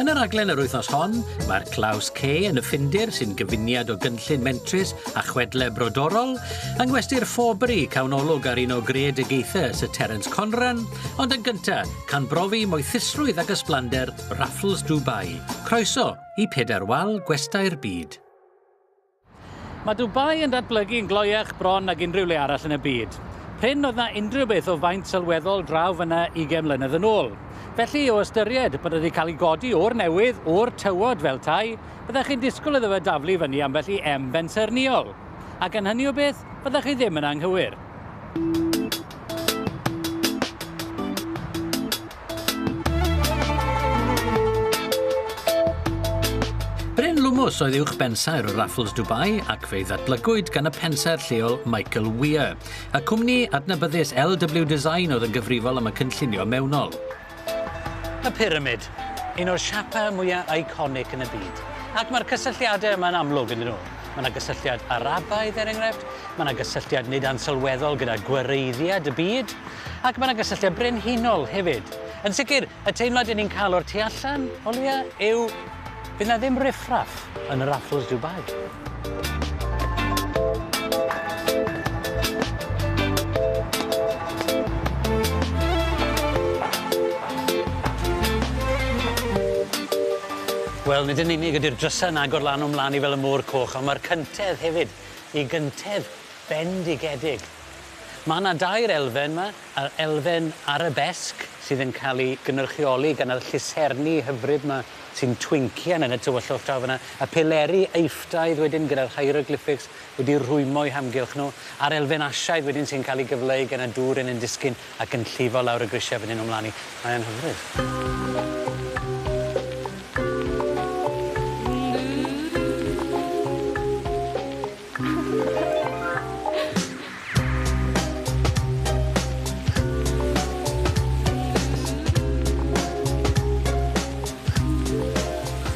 Yn y rhaglen yr wythnos hon, mae'r Claws C yn y Ffindir sy'n gyfuniad o gynllun mentrus a chwedle brodorol, yng ngwesty'r Forbury, cawnolog ar un o greadigaethau Sir Terence Conran, ond yn gynta, can brofi moethusrwydd ac ysblander Raffles Dubai. Croeso i Pedair Wal Gwestai'r Byd. Mae Dubai yn datblygu yn gloiach bron nag unrhyw le arall yn y byd. Prin oedd na unrhyw beth o faint sylweddol draw fyna 20 mlynedd yn ôl. Felly, o ystyried bod wedi cael ei godi o'r newydd, o'r tywod fel tai, byddech chi'n disgwyl iddo fe daflu fyny ambell i em bensaernïol. A gan hynny o beth, byddech chi ddim yn anghywir. Bryn Lwmws oedd uwch bensaer o Raffles Dubai ac fe'i ddatblygwyd gan y pensaer lleol Michael Weir. Y cwmni adnabyddus LW Design oedd yn gyfrifol am y cynllunio mewnol. Y pyramid, un o'r siapau mwyaf eiconig yn y byd. Ac mae'r cysylltiadau yma'n amlwg, ynddyn nhw? Mae yna gysylltiad Arabaidd, er enghraifft, mae yna gysylltiad nid ansylweddol gyda gwareiddiad y byd, ac mae yna gysylltiad brenhinol hefyd. Yn sicr, y teimlad yn ni'n cael o'r tu allan, o leia, yw fydd yna ddim riffraff yn y Raffles Dubai. Wel, nid yn unig ydy'r drysau yn agor lan o'm mlan i fel y môr coch, ond mae'r cyntedd hefyd, i gyntedd bendigedig. Mae 'na dair elfen 'ma, yr elfen arabesque sydd yn cael ei gynrychioli gan yr lluserni hyfryd 'ma sy'n twincio yn y tywyllwch draw fan'na, y pileri Eiffdaidd wedyn gyda'r hieroglyphics wedi rhwymo o'u hamgylch nhw, a'r elfen Asiaidd wedyn sy'n cael ei gyfleu gan y dŵr yn ein disgyn. ac yn llifo lawr y grisiau a fyny nhw mlaen i. Mae e'n hyfryd.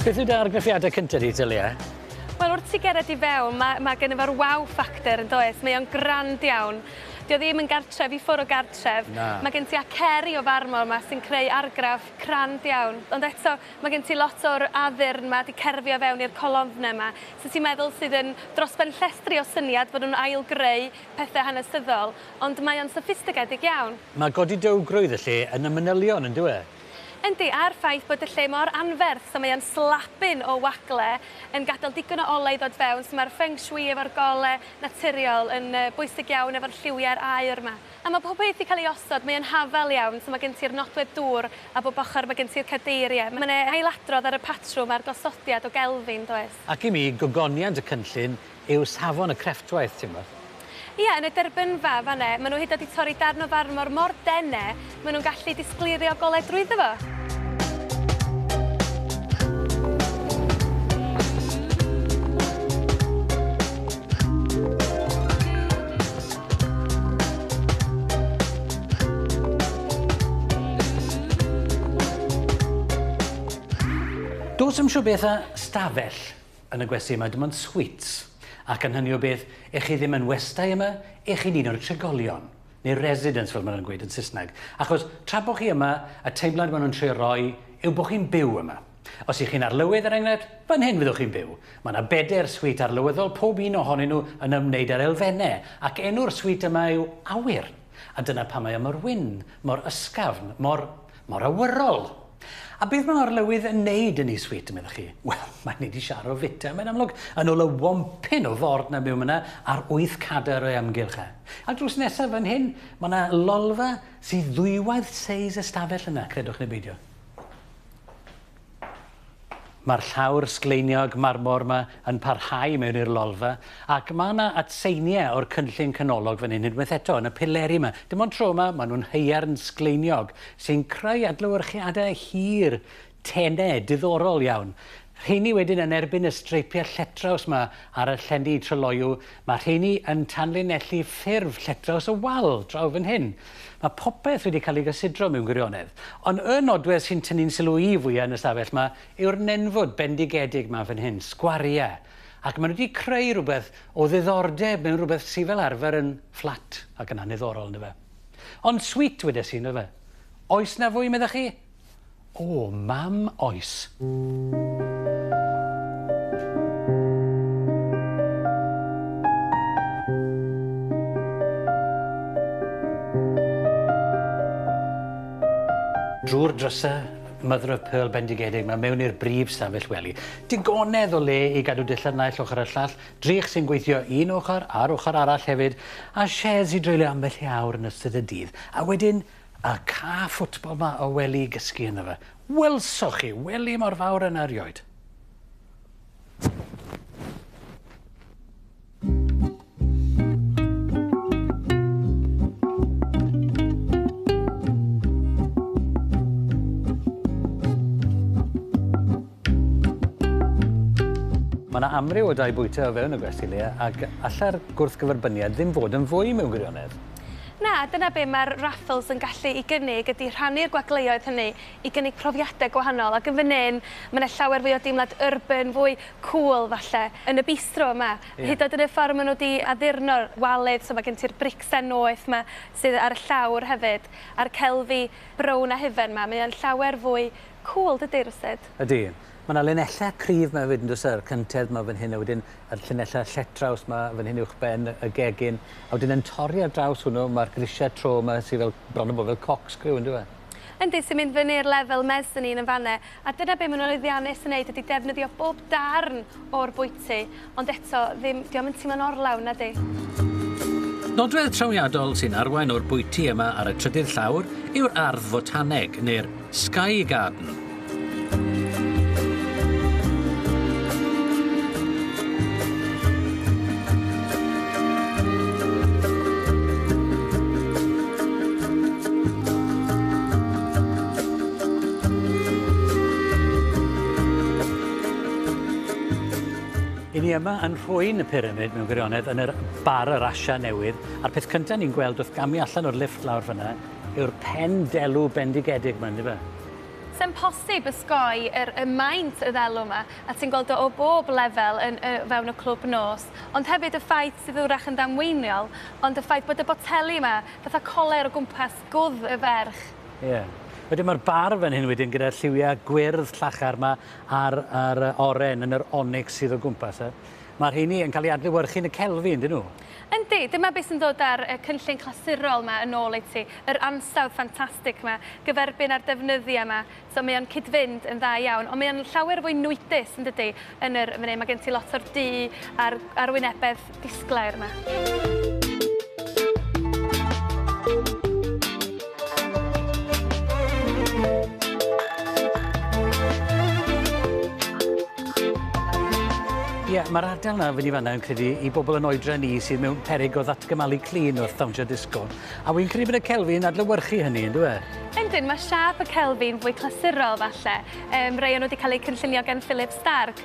Beth yw dy argraffiadau cynta di, Talia? Wel, wrth ti gerdded i fewn, ma' ma' genno fo'r wow factor, yn does? Mae o'n grand iawn. Dio ddim yn gartref i ffwr o gartref. Na. Mae gen ti aceri o farmor 'ma sy'n creu argraff crand iawn. Ond eto, mae gen ti lot o'r addurn 'ma 'di cerfio fewn i'r colofnau 'ma, sut ti'n meddwl sydd yn dros ben llestri o syniad fod nhw'n ail-greu pethe hanesyddol, ond mae o'n soffistigedig iawn. Mae godi dywgrwydd y lle yn y manylion, yn dyw e? Yndi, a'r ffaith bod y lle mor anferth, so mae o'n slabin o wagle yn gadael digon o olew i ddod fewn, so mae'r feng shui efo'r gole naturiol yn bwysig iawn efo'r lliwiau'r aur 'ma. A mae pob peth 'di cael ei osod, mae o'n hafal iawn, so mae gen ti'r nodwedd dŵr a bob ochr mae gen ti'r cadeiriau. Mae 'na ailadrodd ar y patrwm a'r gosodiad o gelfi, yn does? Ac i mi, gogoniant y cynllun yw safon y crefftwaith, ti'n gwybod. Ie, yn y derbynfa, fan 'na. Maen nhw hyd yn oed 'di torri darn o farmor mor dene, maen nhw'n gallu disgleirio golau drwyddo fo. Does dim siŵr beth a 'stafell'. Yn y gwesty yma dim ond sweets, ac yn hynny o beth, ych chi ddim yn westai yma, ych chi'n un o'r trigolion, neu residents fel maen nhw'n gweud yn Saesneg, achos tra bod chi yma, y teimlad maen nhw'n trio roi yw bod chi'n byw yma. Os ych chi'n arlywydd, er enghraifft, fan hyn fyddwch chi'n byw. Mae yna bedair sweet arlywyddol, pob un ohonyn nhw yn ymwneud â'r elfennau, ac enw'r sweet yma yw Awyr. A dyna pam mae o mor wyn, mor ysgafn, mor... mor awyrol! A beth mae arlywydd yn neud yn Is Wheat, meddwch chi? Wel, mae'n neud i siaro fita, mae'n amlwg, yn ôl y wompyn o ford na byw myna ar wyth cadar o'i amgylch e. A drws nesaf fan hyn, mae yna lolfa sydd ddwywaith seis y stafell yna, credwch neu beidio. Mae'r llawr sgleiniog marmor 'ma yn parhau mewn i'r lolfa, ac mae 'na atseiniau o'r cynllun canolog fan hyn unwaith eto, yn y pileri 'ma. Dim ond tro 'ma, maen nhw'n haearn sgleiniog, sy'n creu adlewyrchiadau hir, tenau, diddorol iawn. Rheiny wedyn yn erbyn y streipiau lletraws 'ma ar y llenni tryloyw, Mae'r rheiny yn tanlinellu ffurf lletdraws y wal draw fan hyn. Mae popeth wedi cael ei gysidro mewn gwirionedd. Ond y nodwedd sy'n tynnu'n sylw i fwya' yn y stafell 'ma yw'r nenfwd bendigedig 'ma fan hyn, sgwariau. Ac maen nhw wedi creu rhywbeth o ddiddordeb mewn rhywbeth sy' fel arfer yn fflat ac yn anniddorol, yndyfe? Ond sweet, wedes i, yndyfe? Oes 'na fwy, meddech chi? O, mam, oes. Drwy'r drysau, Mother of Pearl bendigedig 'ma mewn i'r brif stafell wely. Digonedd o le i gadw dillad naill ochr a'r llall, drych sy'n gweithio un ochr a'r ochr arall hefyd, a sheds i dreulio ambell i awr yn ystod y dydd, a wedyn, A ca ffwtbol ma o wely i gysgu ynddo fe. Welsoch chi, wely mor fawr yna erioed. Mae yna amryw o dai bwyta o fewn y gwesty le ac allai'r gwrthgyferbyniad ddim fod yn fwy mewn gwirionedd. Na, dyna be mae'r raffls yn gallu ei gynnig ydy rhannu'r gwagleoedd hynny i gynnig profiadau gwahanol ac yn fan hyn mae 'na llawer fwy o deimlad urban, fwy cŵl falle yn y bistro yma. Hyd yn oed yn y ffordd maen nhw 'di addurno waled, so mae gen ti'r bricsen noeth 'ma sydd ar y llawr hefyd a'r celfi brown a hufen 'ma, mae o'n llawer fwy Cŵl dydi Rwsed? Ydi. Ma' 'na linellau cryf 'ma hefyd yndoes e? Yr cyntedd 'ma fan hyn a wedyn yr llinellau lletraws 'ma fan hyn uwchben y gegin a wedyn yn torri ar draws hwnnw ma'r grisiau tro 'ma sy fel bron a bod fel corkscrew yndyw e? Yndi, sy'n mynd fyny i'r lefel mezzanine yn fan 'na a dyna be' ma' nhw'n lwyddiannus yn neud ydi defnyddio bob darn o'r bwyty, ond eto, ddim, 'di o'm yn timlo'n orlawn, nadi? Nodwedd trawiadol sy'n arwain o'r bwyty yma ar y trydydd llawr yw'r ardd fotaneg, neu'r 'sky garden'. I ni yma yn nhrwyn y pyramid mewn gwirionedd yn yr bar yr Asia newydd a'r peth cynta ni'n gweld wrth gamu allan o'r lifft lawr fynna yw'r pen delw bendigedig ma yndyfe? Sa'n posib ysgoi yr y maint y ddelw ma a ti'n gweld o o bob lefel yn y fewn y clwb nos ond hefyd y ffaith sydd wrach yn ddamweiniol ond y ffaith bod y boteli ma fatha coler o gwmpas gwddf y ferch. Ie. Wedyn ma'r bar fan hyn wedyn gyda'r lliwia gwyrdd llachar ma a'r a'r oren yn yr onyx sydd o gwmpas e. Mae'r rheini yn cael eu adlewyrchu yn y celfi, yndyn nhw? Yndi, dyma beth sy'n dod â'r y cynllun clasurol yma yn ôl i ti, yr ansawdd ffantastig yma, gyferbyn â'r defnyddia yma, so mae o'n cyd-fynd yn dda iawn, ond mae o'n llawer fwy nwydus, yndydi, yn yr fan hyn, mae gen ti lot o'r du a'r arwynebedd Disglair ma. Ie, yeah, mae'r ardal yna fyny fanna yn credu i bobl yn oedra ni sydd mewn perig o ddatgymalu clyn wrth ddawnsio disgo. A wy'n credu bod y Celfi'n adlywyrchu hynny, yn dweud? E? Yndyn, mae siap y Celfi'n fwy clasurol falle. Um, rei o'n wedi cael eu cynllunio gan Philip Stark,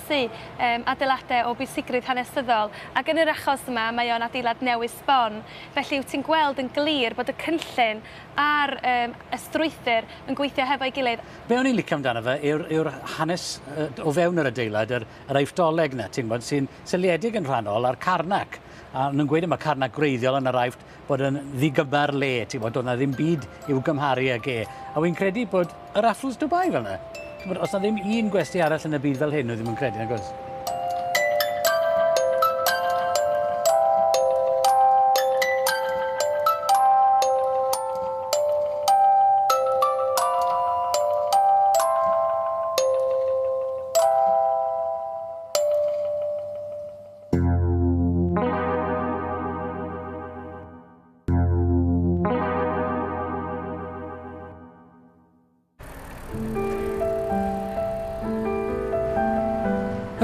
asesu um, adeiladau o bwysigrwydd hanesyddol, ac yn yr achos yma mae o'n adeilad newydd sbon. Felly wyt ti'n gweld yn glir bod y cynllun a'r um, y strwythur yn gweithio hefo'i gilydd. Be o'n i'n licio amdano fe yw'r yw hanes o fewn yr adeilad, yr, yr aifftdoleg na, ti'n bod, sy'n seliedig yn rhannol ar carnac. A nhw'n gweud yma carnac gwreiddiol yn yr aifft bod yn ddigyma'r le, ti'n bod, doedd na ddim byd i'w gymharu ag e. A wy'n credu bod y raffles Dubai fel yna. Ti'n bod, os na ddim un gwesti arall yn y byd fel hyn, oedd ddim yn credu, nag oes?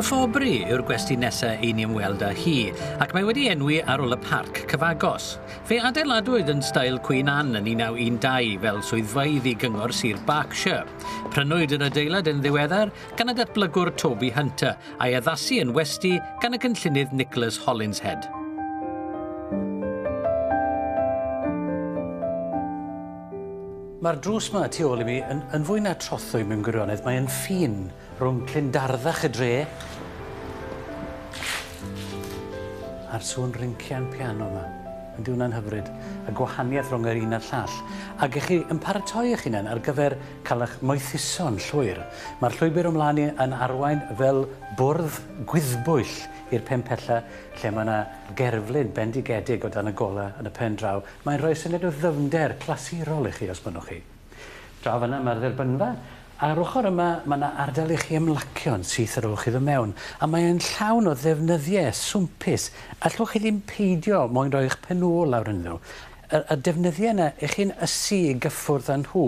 Hyfforddbri yw'r gwesty nesa' i ni ymweld â hi, ac mae wedi enwi ar ôl y parc cyfagos. Fe adeiladwyd yn stael Queen Anne yn 1912 fel swyddfeydd i Gyngor Sir Berkshire. Prynwyd yr adeilad yn ddiweddar gan y datblygwr Toby Hunter, a'i addasu yn westy gan y cynllunydd Nicholas Hollinshead. Mae'r drws yma tu ôl i mi yn, yn fwy na trothwy mewn gwirionedd. Mae'n ffin rhwng clindarddach y dre a'r sŵn rincian piano yma. Yn diwna'n hyfryd, y gwahaniaeth rhwng yr un a'r llall. Ac ych chi yn paratoi eich hunain ar gyfer Caewch moethuso'n llwyr. Mae'r llwybr o'm mlaen i yn arwain fel bwrdd gwyddbwyll i'r pen pella lle mae yna gerflun bendigedig o dan y golau yn y pen draw. Mae'n rhoi syniad o ddyfnder clasurol i chi os mynnwch chi. Draw fan'na mae'r dderbynfa. Ar ochr yma mae yna ardal i chi ymlacio'n syth ar ôl chi ddod mewn, a mae e'n llawn o ddefnyddiau swmpus, allwch chi ddim peidio mo'yn rhoi'ch pen-ôl lawr ynddyn nhw. Yr y defnyddiau yna i chi'n ysu i gyffwrdd â nhw,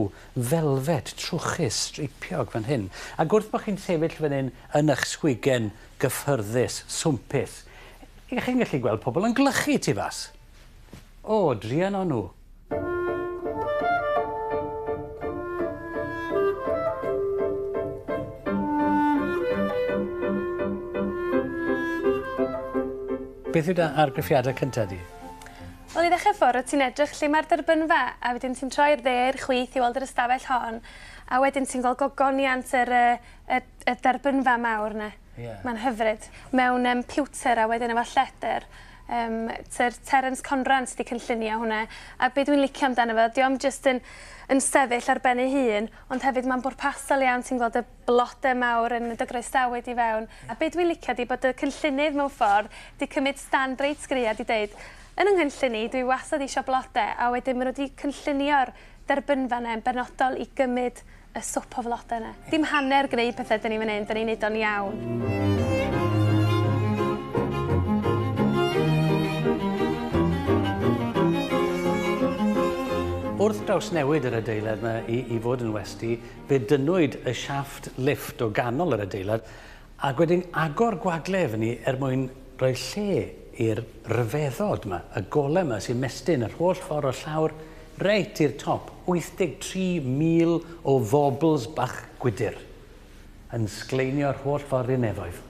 felfed, trwchus, streipiog, fan hyn. Ac wrth bo' chi'n sefyll fan hyn yn ych sgwigen gyffyrddus, swmpus, y'ch chi'n gallu gweld pobl yn gwlychu tu fas. O, druan o nhw. Beth yw dy argraffiadau cynta di? Wel i ddechrau ffordd rwyt ti'n edrych lle mae'r derbynfa a wedyn ti'n troi'r dde i'r chwith i weld yr ystafell hon a wedyn ti'n gweld gogoniant yr, y, y, y derbynfa mawr yna. Yeah. Mae'n hyfryd. Mewn um, pewter a wedyn efo lledr. Um, Ter Terence Conran sydd wedi cynllunio hwnna. A beth dwi'n licio amdano fo, diolch jyst yn, yn sefyll ar ben ei hun, ond hefyd mae'n bwrpasol iawn, ti'n gweld y Blode mawr yn dy groesawu di fewn a be dwi'n licio di bod dy cynllunydd mewn ffordd di cymyd stand reit gry a di deud yn y nghynllun i dwi wastad isio blode a wedyn ma nhw di cynllunio'r derbynfa yna yn benodol i gymyd y swp o flode yna. Dim hanner gneud pethe dyn ni fan hyn, dyn ni'n neud o'n iawn. Wrth drawsnewid yr adeilad yma i fod yn westy, Fe dynnwyd y siafft lifft o ganol yr adeilad ac wedyn agor gwagle efo ni er mwyn rhoi lle i'r rhyfeddod 'ma, y golem 'ma sy'n mestyn yr holl ffordd o'r llawr reit i'r top, 83,000 o fobls bach gwydr yn sgleinio'r holl ffordd i'r nefoedd.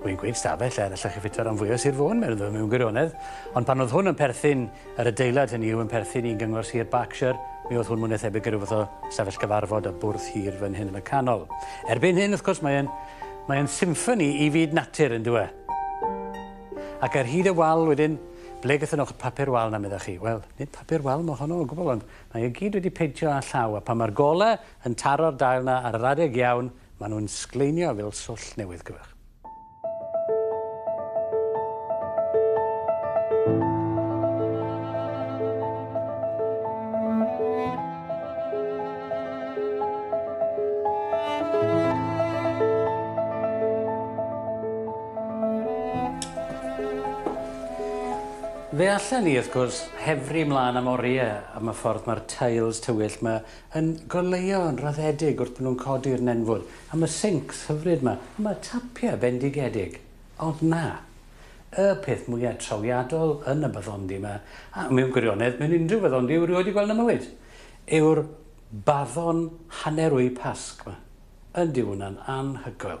Rwy'n gwneud stafell lle allech chi ffito ran fwya o Sir Fôn, meddwn mewn gwirionedd, ond pan oedd hwn yn perthyn, yr adeilad hynny yw yn perthyn i Gyngor Sir Berkshire, mi oedd hwn mwy na thebyg i ryw fath o stafell gyfarfod a bwrdd hir fan hyn yn y canol. Erbyn hyn, wrth gwrs, mae e'n mae e'n symffoni i fyd natur, yn dwe. Ac ar hyd y wal wedyn, ble gyda nhw'ch papur wal na meddwch chi? Wel, nid papur wal mae honno o gwbl, ond mae e gyd wedi peintio â llaw, a pan mae'r golau yn taro'r dail na ar yr adeg iawn, Maen nhw'n sgleinio fel swllt newydd gwych. Fe allen ni, wrth gwrs, hefru mlaen am oriau am y ffordd mae'r tiles tywyll 'ma yn goleuo yn raddedig wrth bod nhw'n codi'r nenfwd, a ma' sincs hyfryd 'ma, a ma' tapiau bendigedig, ond na, y peth mwya' trawiadol yn y baddondi 'ma, a mewn gwirionedd mewn unrhyw faddondi wi 'rioed 'di gweld yn 'y mywyd, yw'r baddon hanner wy Pasg 'ma. Yndi, wi 'wna'n anhygoel.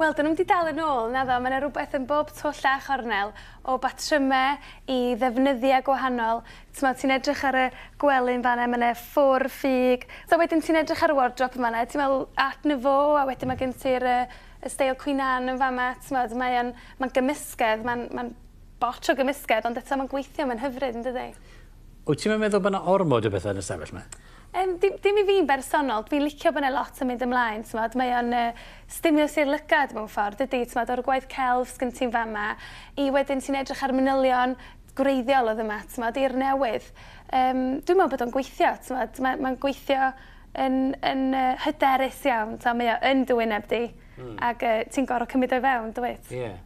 Wel, dyn nhw'm di dal yn ôl, naddo, mae yna rhywbeth yn bob twll a chornel, o batrymau i ddefnyddiau gwahanol, t'mod, ti'n edrych ar y gwely'n fan'na, mae yna ffwr, ffug, so wedyn ti'n edrych ar y wardrobe yn fan'na, ti'n meddwl Art Nouveau, a wedyn mae gen ti'r yy y steil Queen Anne yn fama, t'mod, mae o'n, mae'n gymysgedd, mae'n, mae'n bocs o gymysgedd, ond eto mae'n gweithio, mae'n hyfryd, yn dydi? Wyt ti'm yn meddwl bod 'na ormod o bethau yn y stafell 'ma? Yym, dim, dim i fi'n bersonol. Dwi'n licio bod 'na lot yn mynd ymlaen, t'mod. Mae o'n yy stimulws i'r lygad mewn ffordd, dydi? T'mod, o'r gwaith celf sgyn ti'n fama, i wedyn ti'n edrych ar manylion gwreiddiol oedd yma, t'mod, i'r newydd. Yym, dwi'n meddwl bod o'n gweithio, t'mod. Mae, mae'n gweithio yn, yn uh, hyderus iawn. T'mod, mae o yn dy wyneb di. Mm. Ac uh, ti'n gorfod cymryd o'i fewn, dwyt? Ie. Yeah.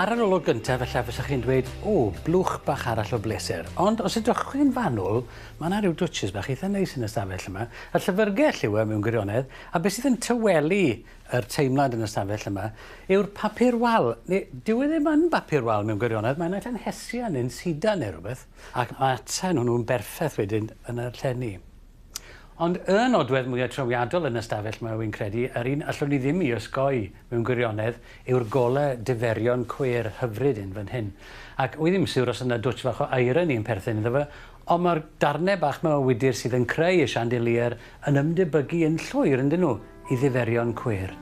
ar yr olwg gyntaf, efallai fysech chi'n dweud, o, blwch bach arall o bleser. Ond os ydych chi'n fanwl, Mae 'na ryw dwtshys bach eitha neis yn y stafell yma, y llyfrgell yw e mewn gwirionedd, a be' sydd yn tawelu yr teimlad yn y stafell yma yw'r papur wal, ne' dyw e ddim yn bapur wal mewn gwirionedd, mae 'na ella'n hesia' ne'n sidan ne' rwbeth, ac ma' ata nw nw'n berffeth wedyn yn y llenni. Ond y nodwedd mwya trawiadol yn y stafell 'ma wi'n credu, yr un allwn ni ddim 'i osgoi mewn gwirionedd, yw'r gole diferion cweir hyfryd 'yn fan hyn. Ac wi ddim yn siwr os o' 'na dwtsh fach o irony yn perthyn iddo fe, Ond mae'r darnau bach 'ma o wydr sydd yn creu y chandelier yn ymdebygu yn llwyr, yndyn nhw, i ddiferion cwyr.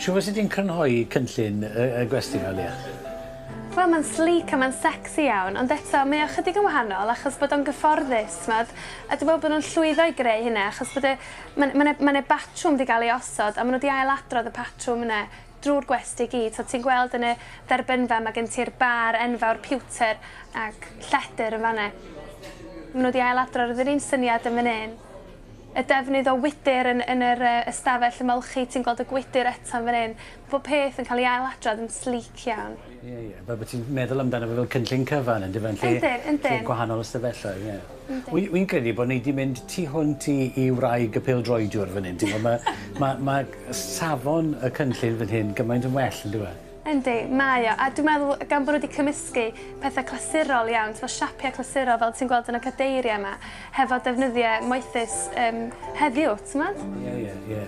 Shwt fyse ti'n crynhoi cynllun y, y gwesty fel ia? Wel, mae'n sleek a mae'n sexy iawn, ond eto, mae o chydig yn wahanol achos bod o'n gyfforddus, tmod, a dwi'n meddwl bod nhw'n llwyddo i greu hynna achos bod e Ma' ma' 'ne ma' 'ne batrwm 'di ga'l ei osod a ma' n'w 'di ail-adrodd y patrwm yne drw'r gwesty i gyd. So ti'n gweld yn y dderbynfa ma' gen ti'r bar enfawr pewter ac lledr yn fan 'ne. Ma' n'w 'di ail-adrodd yr un syniad yn fan 'yn. Y defnydd o wydr yn yn yr yy ystafell ymolchi ti'n gweld y gwydr eto'n fan 'yn. Pob peth yn cael ei ail-adrodd yn sleek iawn. Ie, ie. Fel bod ti'n meddwl amdano fe fel cynllun cyfan yndyfe? Yn lle... Yndyn, yndyn. ...lle gwahanol ystafelloedd, ie. Yndyn. Wi wi'n credu bod ni 'di mynd tu hwnt i i wraig y pêl-droediwr fan hyn. Ti'n gwbod ma' ma' ma' safon y cynllun fan hyn gymaint yn well yndyw e? Yndi, mae o. A dwi'n meddwl gan bod nhw 'di cymysgu pethe clasurol iawn, t'mo' siapie clasurol fel ti'n gweld yn y cadeirie 'ma, hefo defnyddie moethus yym heddiw, t'mod? Ie, ie, ie.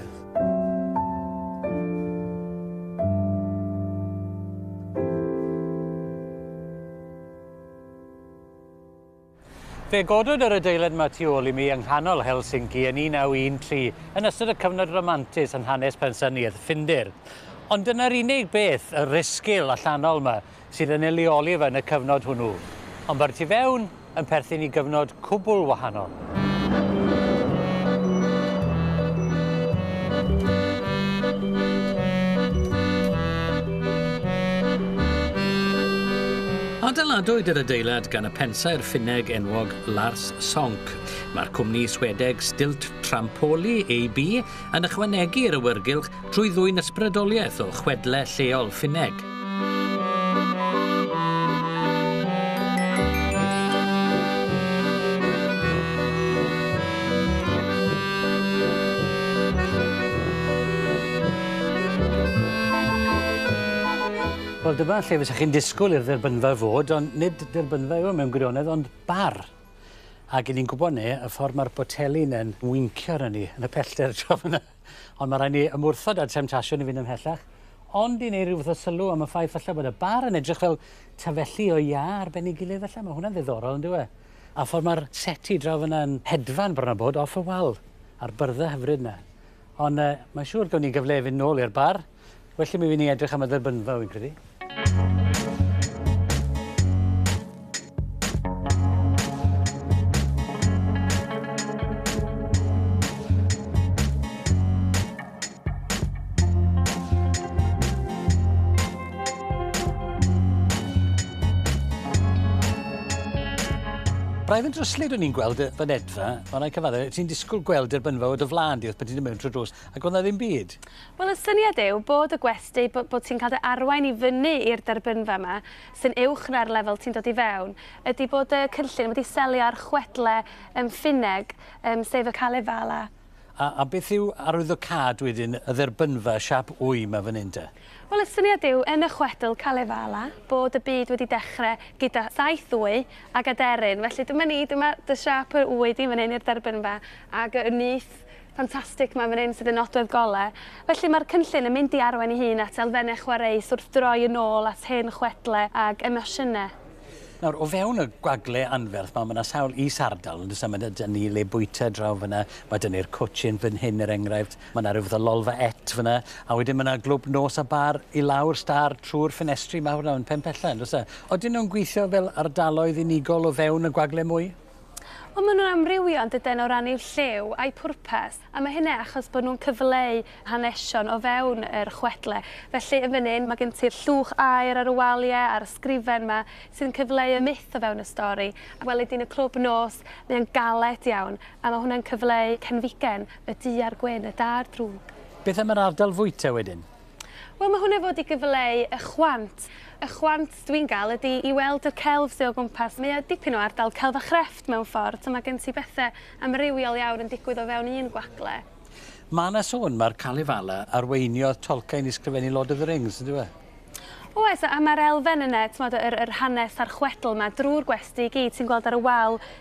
Fe godwyd yr adeilad yma tu ôl i mi yng nghanol Helsinki yn 1913 yn ystod y cyfnod romantus yn hanes pensaerniaeth Ffindir. Ond dyna'r unig beth, y risgil allanol yma, sydd yn ei leoli ef yn y cyfnod hwnnw, ond mae'r tu fewn yn perthyn i gyfnod cwbl wahanol. Adeiladwyd yr adeilad gan y pensaer Ffinneg enwog Lars Sonck. Mae'r cwmni Swedeg Stilt Trampoli AB yn ychwanegu i'r awyrgylch trwy ddwyn ysbrydoliaeth o chwedle lleol Ffinneg. Wel, dyma lle fysa chi'n disgwyl i'r dderbynfa fod, ond nid derbynfa yw e mewn gwirionedd, ond bar. Ac i ni'n gwybod ne, y ffordd mae'r boteli yn mwyncio arno ni yn y pellter tro fyna. Ond mae rhaid ni ymwrthod â'r temtasiwn i fynd ymhellach, ond i wneud rhyw fath o sylw am y ffaith falle bod y bar yn edrych fel tafelli o iâ ar ben ei gilydd falle, mae hwnna'n ddiddorol yn dywe. A ffordd mae'r seti draw fyna yn hedfan bron a bod off y wal, a'r byrddau hyfryd yna. Ond uh, mae'n siŵr gawn ni gyfle i fynd nôl i'r bar. Well i mi fynd i edrych am y dderbynfa, wy'n credu. Braidd yn dryslyd o'n i'n gweld y fynedfa, ond rhaid cyfaddau, ti'n disgwyl gweld derbynfa o dy flan di wrth bod ti'n mewn trwy drws, ac o'na ddim byd. Wel y syniad yw bod y gwesty, bo- bod ti'n cael dy arwain i fyny i'r derbynfa 'ma sy'n uwch na'r lefel ti'n dod i fewn, ydy bod y cynllun wedi selio ar chwedle yym Ffinneg yym sef y Kalevala. A a beth yw arwyddocâd wedyn y dderbynfa siâp wy 'ma fan hyn te? Wel y syniad yw yn y chwedl Kalevala bod y byd wedi dechre gyda saith wy ag aderyn felly dyma ni dyma dy siâp yr wy di fan hyn i'r derbynfa ag y nyth Ffantastig 'ma fan hyn sydd yn nodwedd gole. Felly mae'r cynllun yn mynd i arwain ei hun at elfennau chwareus wrth droi yn ôl at hen chwedle ag emosiynau. Nawr, o fewn y gwagle anferth 'ma, mae 'na sawl is-ardal, yn does e? Mae 'na... 'da ni le bwyta draw fan'na, mae 'da ni'r cwtshyn fan hyn er enghraifft, mae 'na ryw fath o lolfa et fan'na, a wedyn mae 'na glwb nos a bar i lawr stâr trwy'r ffenestri mawr 'na yn Penpellau, yn does e? Odyn nhw'n gweithio fel ardaloedd unigol o fewn y gwagle mwy? Ond maen nhw'n amrywio yn dydyn o ran eu lliw a'u pwrpas, a mae hynny achos bod nhw'n cyfleu hanesion o fewn yr chwedle. Felly, yn fan hyn, mae gen ti'r llwch aer ar y waliau a'r ysgrifen 'ma sy'n cyfleu y myth o fewn y stori. A weled di'n y clwb nos, mae o'n galed iawn, a mae hwnna'n cyfleu cenfigen y du a'r gwyn, y da a'r drwg. Beth am yr ardal fwyta wedyn? Wel mae hwnna fod i gyfleu y chwant. Y chwant dwi'n gael ydy i weld y celf sydd o gwmpas. Mae o dipyn o ardal celf a chrefft mewn ffordd, so mae gen ti bethau amrywiol iawn yn digwydd o fewn un gwagle. Mae yna sôn mae'r Kalevala arweiniodd Tolkien i sgrifennu Lord of the Rings, yn dyw e? Oes, a mae'r elfen yna, timod, yr, yr hanes a'r chwedl yma, drwy'r gwesty i gyd, ti'n gweld ar y wal,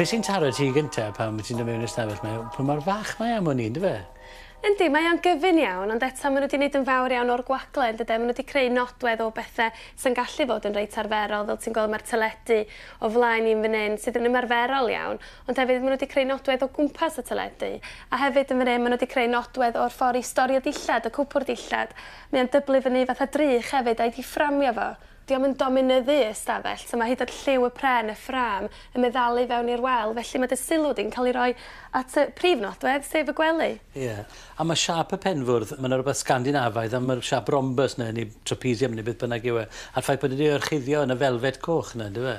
Be' sy'n taro ti gynta pan ti'n dod mewn i'r stafell 'ma yw pa mor fach mae am wn i yndyfe? Yndi mae o'n gyfun iawn ond eto ma' n'w 'di neud yn fawr iawn o'r gwagle yndyden? Ma' n'w 'di creu nodwedd o bethe sy'n gallu fod yn reit arferol fel ti'n gweld ma'r teledu o flaen i yn fan 'yn sydd yn ymarferol iawn ond hefyd ma' n'w 'di creu nodwedd o gwmpas y teledu a hefyd yn fan 'yn ma' n'w 'di creu nodwedd o'r ffor i storio dillad y cwpwr dillad mae o'n dyblu fyny fatha drych hefyd a'i di fframio fo Diom yn dominyddu y stafell, so mae hyd at lliw y pren, y ffrâm, yn meddalu i fewn i'r wal, felly mae dy sylw di'n cael ei roi at y prif nodwedd, sef y gwely. Ie. A mae siâp y penfwrdd, mae 'na rywbeth Sgandinafaidd am yr siâp rhombys 'na, neu trapezium, neu beth bynnag yw e, a'r ffaith bod e 'di ei orchuddio yn y felfet coch 'na, yndyw e?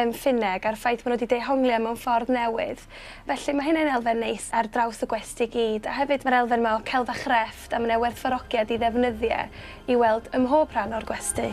yn Ffinneg a'r ffaith bod nhw 'di dehongli o mewn ffordd newydd. Felly mae hynna yn elfen neis ar draws y gwesty i gyd. A hefyd mae'r elfen 'ma o celf a chrefft a mae 'na werthfawrogiad i ddefnyddio i weld ym mhob rhan o'r gwesty.